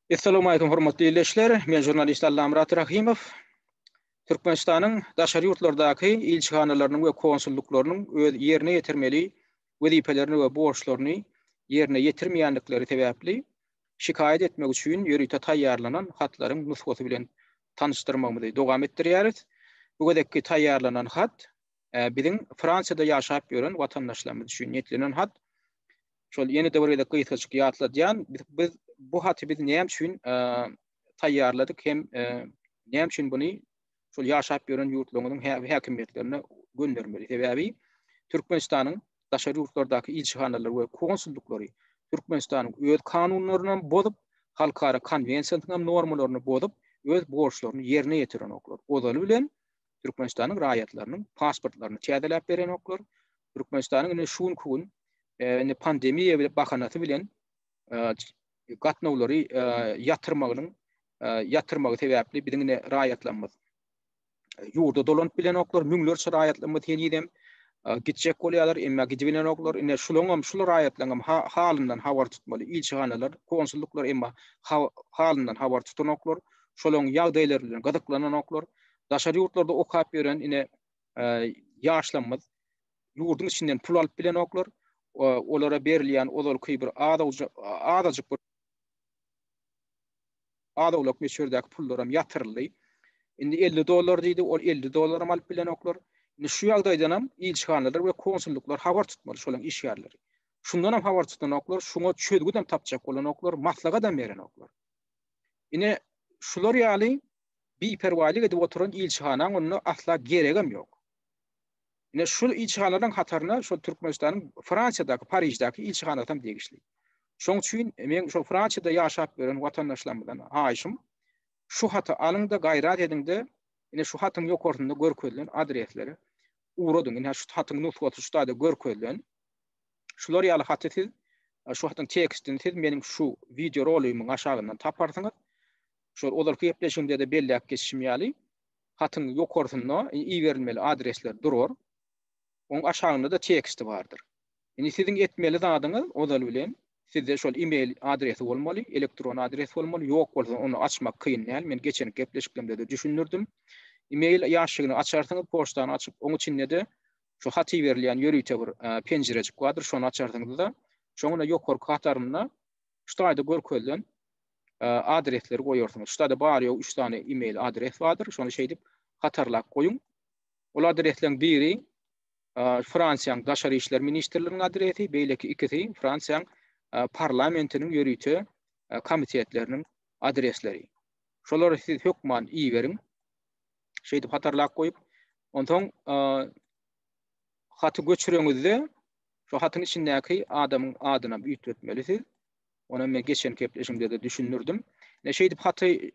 Essalamu aýkum hormatly ildeşler. Men žurnalist Allamyrat Rahymow. Türkmenistanyň daşary ýurtlardaky ilçihanalarynyň we konsullyklarynyň öz ýerine ýetirmeli wezipelerini we borçlaryny ýerine ýetirmeýändikleri sebäpli şikaýat etmek üçin ýörite taýýarlanan hatlaryň nusgasy bilen tanyşdyrmagymyzy dowam etdirýäris. Bu gezekki taýýarlanan hat biziň Fransiýada ýaşap ýören watandaşlarymyz üçin niýetlenen hat. şol ýene-de bir gezek gysgaçyk ýatladýan, biz bu haty biz näme üçin taýýarladyk hem näme üçin buny şol ýaşap ýören ýurtlaryň häkimiýetlerine göndermeli? Sebäbi Türkmenistanyň daşary ýurtlardaky ilçihanalary we konsullyklary Türkmenistanyň öz kanunlaryny bozup, halkara konwensiýasynyň normalaryny bozup, öz borçlaryny ýerine ýetirenoklar. Ozaly bilen Türkmenistanyň raýatlarynyň pasportlaryny täzeläp berenoklar. Türkmenistanyň indi şu günki gün e, indi pandemiýa bilen bahanasy bilen e, gatnawlary e, ýatyrmagynyň ýatyrmagy sebäpli biziň indi raýatlarymyz ýurda dolanyp bilenoklar. Müňlerçe raýatlarymyz henizem gitjek bolýarlar, emma gidip bilenoklar. Indi şularyň hem şular raýatlaryň hem halyndan habar tutmaly. Ilçihanalar, konsulluklar emma halyndan habar tutanoklar. Şolaryň ýagdaýlary bilen gyzyklananoklar. Daşary ýurtlarda okap ýören ine ýaşlarymyz ýurduň içinden pul alyp bilenoklar. Olara berilýän ozalky bir azajyk bir azowlak möçberdäki pullar hem ýatyryldy. Indi 50 dollar diýdi, ol 50 dollar hem alyp bilenoklar. Indi şu ýagdaýdan hem ilçihanalar we konsulluklar habar tutmaly şolaryň işgärleri. Şundan hem habar tutanoklar, şuňa çözgüt hem tapjak bolanoklar, maslahat hem berenoklar. Ine şular ýaly biperwaýlyk edip oturan ilçihanaň onda asla geregem ýok. Ine şul ilçihanalaryň hataryna şol Türkmenistanyň Fransiýadaky, Pariždäki ilçihanasy hem degişli. Şoň üçin meň şol Fransiýada ýaşap ýören watandaşlarymyzdan haýyşym, şu haty alyň-da, gaýrat ediň-de, ine şu hatyň ýokarsynda görkezilen adreslere ugradyň. Ine şu hatyň nusgasy şu taýda görkezilen. Şular ýaly haty siz, şu hatyň tekstini siz meniň şu wideorolygymyň aşagyndan taparsyňyz. Şol ozalky gepleşigimde-de belläp geçişim ýaly, hatyň ýokarsynda iberilmeli adresler durar. Oň aşagynda-da teksti bardyr. Indi siziň etmeli zadyňyz ozal bilen sizde şol email adresi bolmaly, elektron adres bolmaly, ýok bolsa ony açmak kyn däl, men geçenki gepleşiklerimde-de düşündirdim. Email ýaşşygyny açarsyňyz, poçtany açyp, oň içinde-de şu hat iberilýän ýörite bir penjirejik bardyr, şony açarsyňyz-da, şoň ine ýokarky hatarynda şu taýda görkezilen adresleri goýarsyňyz. Ştada bar ýogy üç sany e-mail adres bardyr. Şony şeýdip hatarlap goýuň. Ol adresleriň biri Fransiýanyň Daşary işler ministrliginiň adresi, beýleki ikisi Fransiýanyň parlamentiniň ýörite komitetleriniň adresleri. Şolary siz hökman iberiň. Şeýdip hatarlap goýup, onsoň haty göçüreňizde şu hatyň içindäki adamyň adyny üýtgetmelisiz. Ony men geçen gepleşiňde-de düşündirdim. Ne şeýdip haty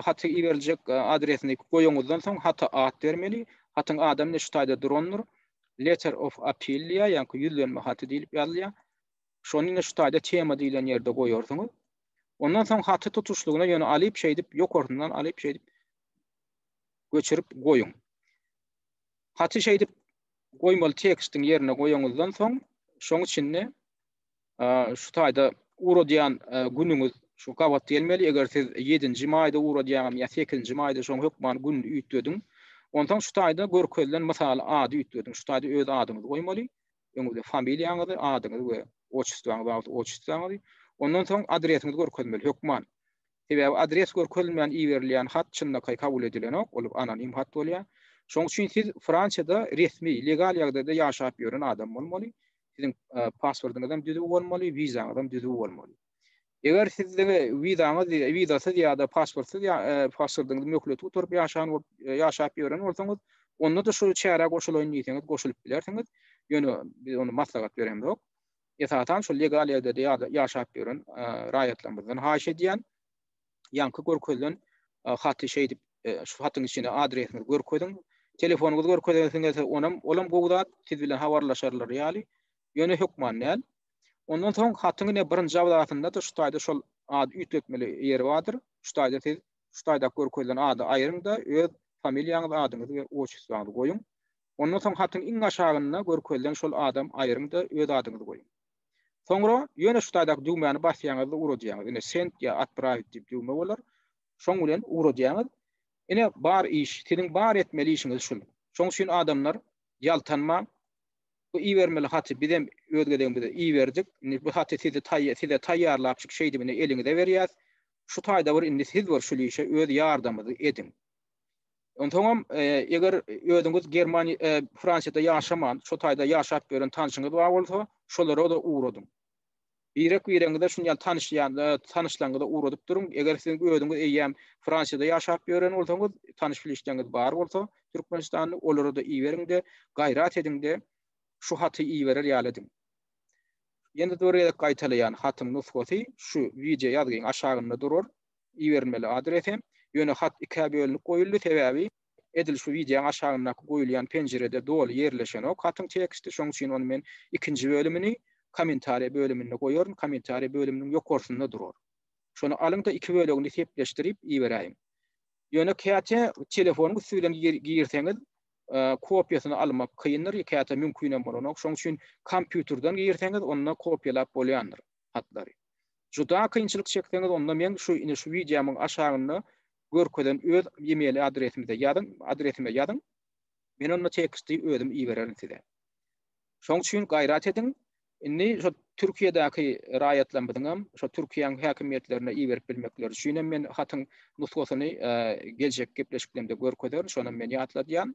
haty iberiljek adresini goýanyňyzdan soň hata at bermeli. Hatyň adam ne şu taýda durandyr. Letter of appeal diýýär, ýa-ni ýüzlenme haty diýlip ýazylýar. Şony ne şu taýda tema diýlen ýerde goýarsyňyz. Ondan soň haty tutuşlygyna ýöne alyp şeýdip ýokarsyndan alyp şeýdip göçürip goýuň. Haty şeýdip goýmaly tekstiň ýerine goýanyňyzdan soň şoň içinde şu taýda uradýan günüňiz şu gabat gelmeli, eger siz 7-nji maýda uradýaňam ýa 8-nji maýda şoň hökman gününi üýtgediň. Onsoň şu taýda görkezilen mysal ady üýtgediň, şu taýda öz adyňyzy goýmaly, öňüňizde familiýaňyzy, adyňyzy we otçestwaňyzy, otçestwaňyzy, ondan soň adresiňizi görkezmeli hökman. Sebäbi adres görkezilmän iberilýän hat çynlakaý kabul edilenok, ol anonim hat bolýar. Şonuň üçin siz Fransiýada resmi, legal ýagdaýda ýaşap ýören adam bolmaly. Siziň pasportyňyz hem düzüw bolmaly, wizaňyz hem düzüw bolmaly. Eger siz wizaňyz wizasyz ýa-da pasportsyz pasportyňyzy möhleti gutaryp ýaşan ýaşap ýören bolsaňyz, onda-da şu çärä goşulaýyn diýseňiz goşulyp bilersiňiz. Ýöne biz ony maslahat beremzok. esasan şol legal ýerde ýaşap ýören raýatlarymyzdan haýyş edýän, ýaňky görkezilen haty şeýdip şu hatyň içine adresiňizi görkeziň, telefonyňyzy görkezesiňiz, onam olam gowy zat, siz bilen habarlaşarlar ýaly, ýöne hökman däl. Ondan soň hatyň ine birinji abzasynda-da şu taýda şol ady üýtgetmeli ýeri bardyr. Şu taýda siz şu taýdaky görkezilen ady aýryň-da öz familiýaňyzy, adyňyzy we otçustrwaňyzy goýuň. Ondan soň hatyň iň aşagynda görkezilen şol adam aýryň-da, öz adyňyzy goýuň. Soňra ýöne şu taýdaky düwmäni basýaňyzda ugradýaňyz. Ine, send ýa atprawić diýip düwme bolar. Şoň bilen ugradýaňyz. Ine, bar iş, siziň bar etmeli işiňiz şul. Şoň üçin adamlar, ýaltanmaň. Bu ibermeli haty bizem öz gezegimizde iberdik. Indi bu haty sizi size taýýarlapjyk şeýdibine eliňize berýäs. Şu taýda bir indi siz bir şul işe öz ýardamyňyzy ediň. Onsoňam, eger özüňiz Germaniýa, Fransiýada ýaşaman, şo taýda ýaşap ýören tanşyňyz bar bolsa, şolara-da ugradyň. Birek-biregiňize şuny ýaly tanyş ýa-da tanyşlaryňyza ugradyp duruň. Eger siziň özüňiz eýýäm Fransiýada ýaşap ýören bolsaňyz, tanyş-bilişleriňiz bar bolsa, türkmenistanly, olara-da iberiň-de, gaýrat ediň-de, şu haty iberer ýaly ediň. Ýene-de bir gezek gaýtalaýan, hatyň nusgasy şu, wideoýazgyň aşagynda durar. iberilmeli adrese. Ýöne hat ikä bölünip goýuldy, sebäbi edil şu wideoň aşagyndaky goýulýan penjirede doly ýerleşenok hatyň teksti, şoň üçin ony men ikinji bölümini Kommentariýa bölüminde goýaryn, Kommentariýa bölüminiň ýokarsynda durar. Şony alyň-da iki bölegini sepleşdirip iberäýiň. Ýöne käte telefonyň üsti bilen girseňiz kopiýasyny almak kyndyr, käte mümkinem bolanok, şoň üçin kompýuterden girseňiz onda kopiýalap bolýandyr. hatlary. Juda kynçylyk çekseňiz onda meň şu ine şu wideomyň aşagynda görkezen öz email adresimize ýazyň, adresime ýazyň. Men onda teksti özüm ibererin size. Şoň üçin gaýrat ediň. Indi şu Türkiýedäki raýatlarymyzyň hem şu Türkiýäň häkimiýetlerine iberip bilmekleri üçin hem men hatyň nusgasyny geljek gepleşiklerimde görkezerin, şony hem men ýatladýan.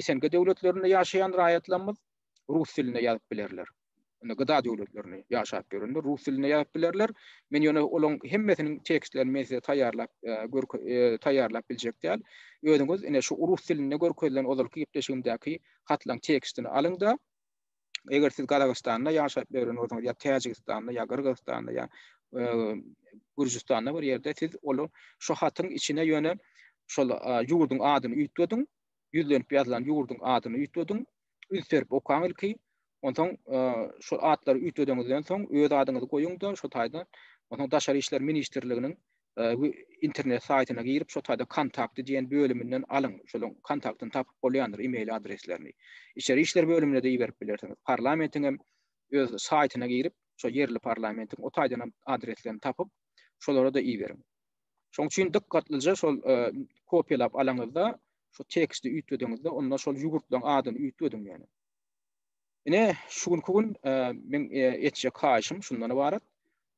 SNG döwletlerinde ýaşaýan raýatlarymyz rus dilinde ýazyp bilerler. Indi gyda döwletlerinde ýaşap ýörenler rus dilinde ýazyp bilerler. Men ýöne olaryň hemmesiniň tekstlerini men size taýýarlap e, e, taýýarlap biljek däl. Özüňiz ine şu rus dilinde görkezilen ozalky gepleşigimdäki hatlaryň tekstini alyň-da, eger siz Gazagystanda ýaşap ýören bolsaňyz, ýa Täjigistanda, ýa Gyrgyzystanda, ýa Gürjüstanda bir ýerde siz ol şu hatyň içine ýöne şol ýurduň adyny üýtgediň, ýüzlenip ýazylan ýurduň adyny üýtgediň, üýtgerip okaň ilki, onsoň şol atlary üýtgediňizden soň öz adyňyzy goýuň-da, şo taýdan onsoň Daşary işler ministrliginiň internet saýtyna girip, şo taýda kontakty diýen bölüminden alyň. Şolaryň kontaktyny tapyp bolýandyr, e-mail adreslerini. Içeri işler bölümine-de iberip bilersiňiz. Parlamentiň hem öz saýtyna girip, şo ýerli parlamentiň o taýdan hem adreslerini tapyp, şolara-da iberiň. Şonuň üçin dykgatlyja şol kopiýalap alaňyzda, şo teksti üýtgediňizde, onda şol ýugurtlaryň adyny üýtgediň ýöne. Ine, şu günki gün meň etjek haýyşym şundan ybarat.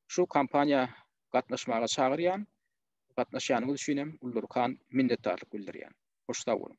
Şu kampaniýa gatnaşmaga çagyrýan. Gatnaşýanyňyz üçin hem ullurkan minnetdarlyk bildirýän. Hoş sag boluň.